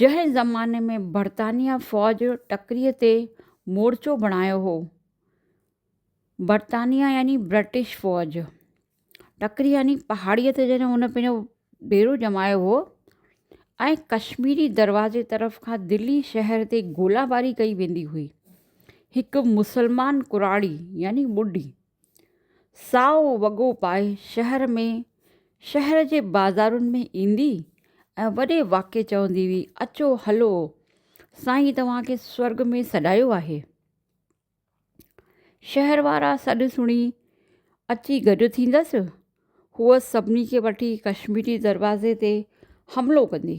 جنهن زماني ۾ برطانيه فوج ٽڪري تي مورچو بڻايو هو برطانيه يعني برٽش فوج ٽڪري يعني پهاڙي تي جڏهن هن پنهنجو ڏيرو ڄمايو هو ۽ ڪشميري دروازي طرف کان دلي شهر تي گولا باري ڪئي ويندي هئي هڪ مسلمان ڪراڙي يعني ٻڍي سائو وڳو پائي شهر ۾ شهر جي بازارن ۾ ايندي ۽ وڏي واڪي چوندي هئي، اچو هلو، سائين توهان کي سورڳ ۾ سڏايو آهي. شهر وارا سڏ سڻي اچي گڏ ٿيندس، هوء سڀني کي وٺي ڪشميري دروازي تي حملو ڪندي.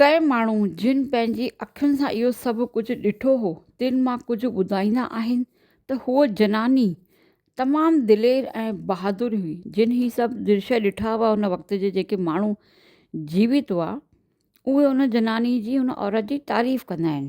ڪي ماڻهو جن پنهنجي اکين سان اهو سڀ ڪجهه ڏٺو هو تن مان ڪجهه ٻڌائيندا آهن ته هوء جناني تمام دلير ۽ بهادر هئي جن هي سڀ درشي ڏٺا هئا ان وقت جي جيڪي ماڻهو جيوت هئا اهي ان جناني جي ان عورت جي تعريف ڪندا آهن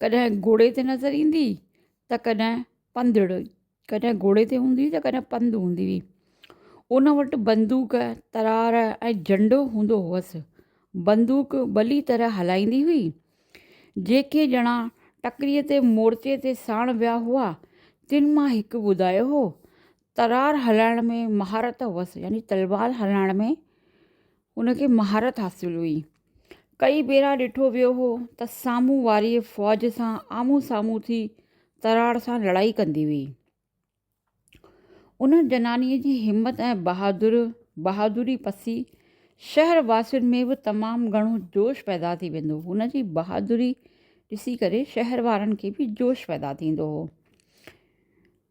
ڪڏهن گهوڙي تي نظر ايندي هئي ته ڪڏهن پنڌڙي ڪڏهن گهوڙي تي هوندي هئي ته ڪڏهن پنڌ هوندي هئي ان وٽ بندوق ترار ۽ جهنڊو هوندو هئس بندوق ڀلي طرح هلائيندي هئي جيڪي ڄڻا ٽڪريء تي مورچي تي ساڻ ويا هئا تن مان هڪ ٻڌايو هو ترار هلائڻ ۾ مهارت هئس يعني تلوار هلائڻ ۾ ان کي مهارت حاصل هئي ڪئي ڀيرا ڏٺو ويو هو ته سامهون واري فوج سان آمهون سامهون ٿي ترار سان لڙائي ڪندي هئي ان جنانيء جي همت ۽ بهادر بهادري پسي شهر واسين ۾ به تمام گهڻو جوش پيدا ٿي ويندو هن جي بهادري ڏسي ڪري شهر وارن کي به جوش پيدا ٿيندو هو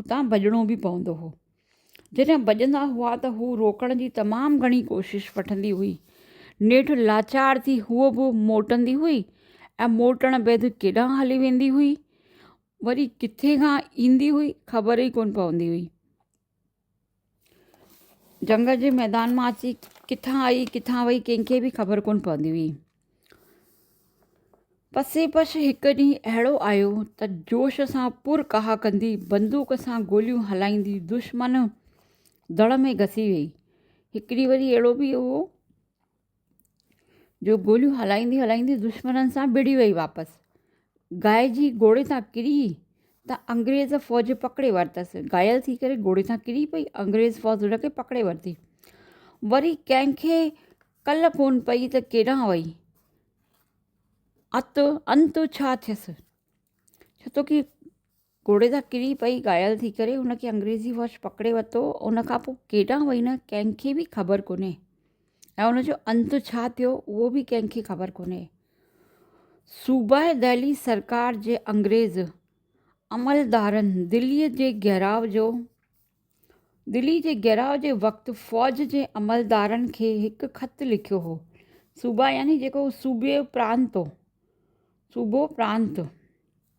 اتان ڀڄڻو به پوندو هو. جڏهن ڀڄندا هئا ته هو روڪڻ جي تمام گهڻي ڪوشش وٺندي هئي. نيٺ لاچار ٿي هوء به موٽندي هئي ۽ موٽڻ بعد ڪيڏانهن هلي ويندي هئي، وري ڪٿي کان ايندي هئي، خبر ئي ڪونه پوندي هئي. جنگ جي ميدان مان اچي ڪٿان آئي ڪٿان وئي ڪنهن کي به خبر ڪونه پوندي هئي. پسي پش هڪ ڏينهن اهڙو آيو ته جوش سان پر ڪاهه ڪندي بندوق سان گوليون هلائيندي دشمن دڙ ۾ گسي وئي. هڪڙي وري اهڙو به هو جو گوليون هلائيندي هلائيندي دشمنن سان وڙهي وئي واپس گائي جي گهوڙي تان ڪري ته انگريز فوج پڪڙي ورتس گهايل ٿي ڪري گهوڙي تان ڪري پئي انگريز فوج ان کي پڪڙي ورتي وري ڪنهنکي ڪل ڪون پئي ته ڪيڏانهن وئي ات انت ڇا ٿيس ڇو تو ڪي گهوڙي تان ڪري پئي گهايل ٿي ڪري ان کي انگريزي واچ پڪڙي ورتو ان کان پوء ڪيڏانهن وئي نه ڪنهن کي بي خبر ڪونهي ۽ ان جو انت ڇا ٿيو اهو به ڪنهن کي خبر ڪونهي صوبه دهلي سرڪار جي انگريز عملدارن دلي جي گهراء جو دلي جي گهراء جي وقت فوج جي عملدارن کي هڪ خط لکيو هو صوبه يعني جيڪو صوبي پرانت صوبو پرانت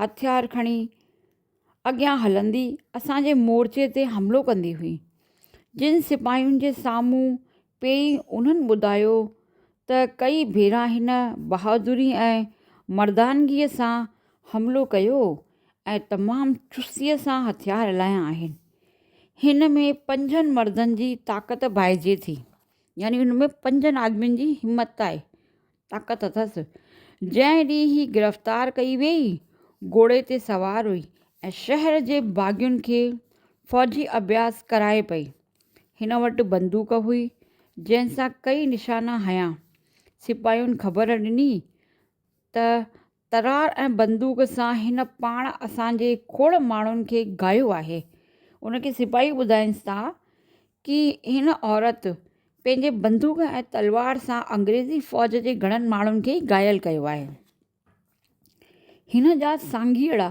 هٿيار کڻي اڳيان هلندي اسان جي مورچي تي حملو ڪندي هئي. جن سپاهين جي سامهون پيئي انهن ٻڌايو ته ڪئي ڀيرا هن بهادري ۽ مردانگيء سان حملو ڪيو ۽ تمام چستيء سان هٿيار هلايا آهن. هن ۾ پنجن مردن جي طاقت ڀائجي ٿي. يعني ان ۾ پنجن آدمين جي همت آهي. طاقت اٿس. جنهن ڏينهن هي گرفتار ڪئي ويئي، گهوڙي تي سوار هئي ۽ شهر جي باغين کي فوجي اڀياس ڪرائي پئي. هن وٽ بندوق هئي، جنهن سان ڪيئي نشانا هنيا. سپاهين خبر ڏني ته ترار ۽ بندوق سان هن پاڻ اسان جي کوڙ ماڻهن کي گاهيو آهي. ان کي سپاهي ٻڌائينس ٿا ڪي هن عورت پنهنجي بندوق ۽ تلوار سان انگريزي فوج جي گهڻن ماڻهن کي گهايل ڪيو آهي. هن جا سانگيئڙا،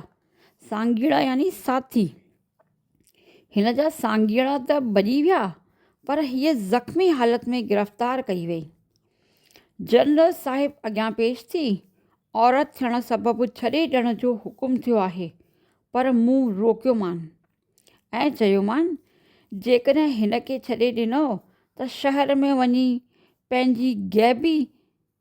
سانگيئڙا يعني ساٿي، هن جا سانگيئڙا ته ڀڄي ويا پر هيء زخمي حالت ۾ گرفتار ڪئي وئي. جنرل صاحب اڳيان پيش ٿي، عورت ٿيڻ سبب ڇڏي ڏيڻ جو حڪم ٿيو آهي پر مون روڪيومان ۽ چيومان جيڪڏهن هن کي ڇڏي ڏنو ته شهر ۾ وڃي پنهنجي غيبي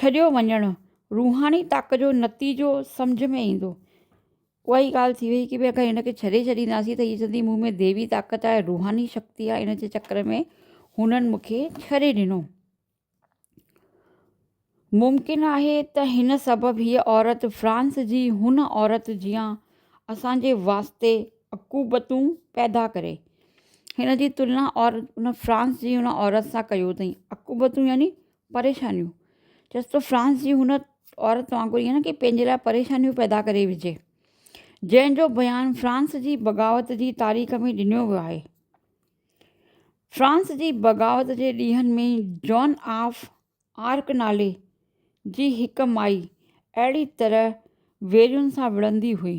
ڇڏيو وڃڻ روحاني طاقت جو نتيجو سمجهه ۾ ايندو. اها ئي ڳالهه ٿي وئي ڪي ڀي اگر هن کي ڇڏي ڇڏينداسين ته هي چوندي مون ۾ ديوي طاقت آهي روحاني شڪتي آهي ان جي چڪر ۾ هنن مون کي ڇڏي ڏنو. ممڪن آهي ته هن سبب هيء عورت فرانس جي هن عورت جيان اسان جي واسطي عقوبتون پيدا ڪري. هن جي تلنا عورت ان فرانس جي ان عورت سان ڪيو اٿئي. عقوبتون يعني پريشانيون چيس ته فرانس جي هن عورت وانگر ائين نه ڪي پنهنجي لاء پريشانيون پيدا ڪري وجهي جنهن جو بيان فرانس جي بغاوت جي تاريخ ۾ ڏنو ويو آهي فرانس جي بغاوت جي ڏينهن ۾ جون آف آرڪ نالي جي هڪ مائي اهڙي طرح ويرين سان وڙهندي هئي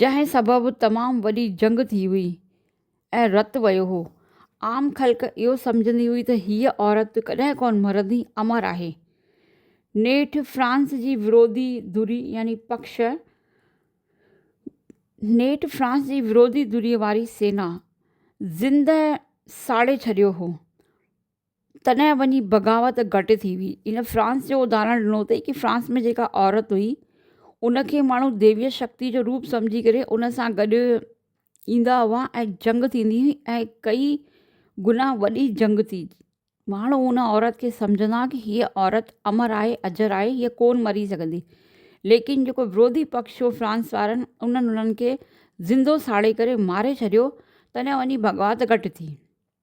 جنهن سبب تمام وڏي جنگ ٿي هئي ۽ رت وهيو هو. عام خلق اهو سمجهندي هئي ته هيء عورت ڪڏهن ڪونه مرندي، امر آهي. نيٺ فرانس جي وروڌي ڌري يعني پڪش، نيٺ فرانس جي وروڌي ڌري واري سينا زندهه ساڙي ڇڏيو هو. تڏهن وڃي بغاوت گهٽ ٿي هئي ان فرانس جو اداهرڻ ڏنو اٿئي ڪي فرانس ۾ جيڪا عورت هئي ان کي ماڻهو ديويء شڪتيء جو روپ سمجهي ڪري ان سان گڏ ايندا هئا ۽ جنگ ٿيندي هئي ۽ ڪئي گنا وڏي جنگ ٿي ماڻهو ان عورت کي سمجهندا ڪي هيء عورت امر آهي اجر آهي هيء ڪون مري سگهندي ليڪن جيڪو وروڌي پڪش هو فرانس وارن انهن انهن کي زندو ساڙي ڪري ماري ڇڏيو تڏهن وڃي بغاوت گهٽ ٿي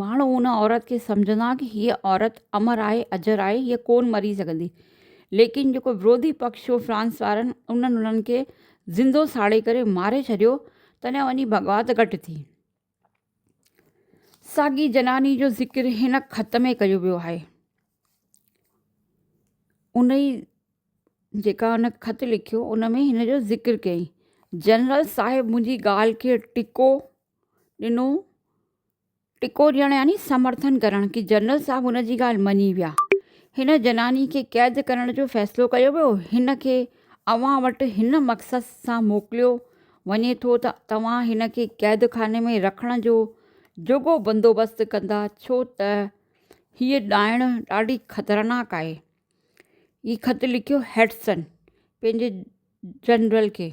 ماڻهو ان عورت کي سمجهندا ڪي هيء عورت امر آهي اجر آهي هيء ڪون مري سگهندي ليڪن جيڪو وروڌي پڪش هو فرانس وارن انهن انهن کي زندو ساڙي ڪري ماري ڇڏيو تڏهن وڃي بغاوت گهٽ ٿي. ساڳي زناني جو ذڪر هن خط ۾ ڪيو ويو آهي. انهي جيڪا هن خط لکيو ان ۾ هن جو ذڪر ڪيائين جنرل صاحب منهنجي ڳالهه کي ٽڪو ڏنو ٽڪو ڏيڻ يعني سمرٿن ڪرڻ ڪي جنرل صاحب ان جي ڳالهه مڃي ويا هن جناني کي قيد ڪرڻ جو فيصلو ڪيو ويو هن کي اوهان وٽ هن مقصد سان موڪليو وڃي ٿو ته توهان هن کي قيد خاني ۾ رکڻ جو جوڳو بندوبست ڪندا ڇو ته هيء ڏائڻ ڏاڍي خطرناڪ آهي هي خط لکيو هيڊسن پنهنجي جنرل کي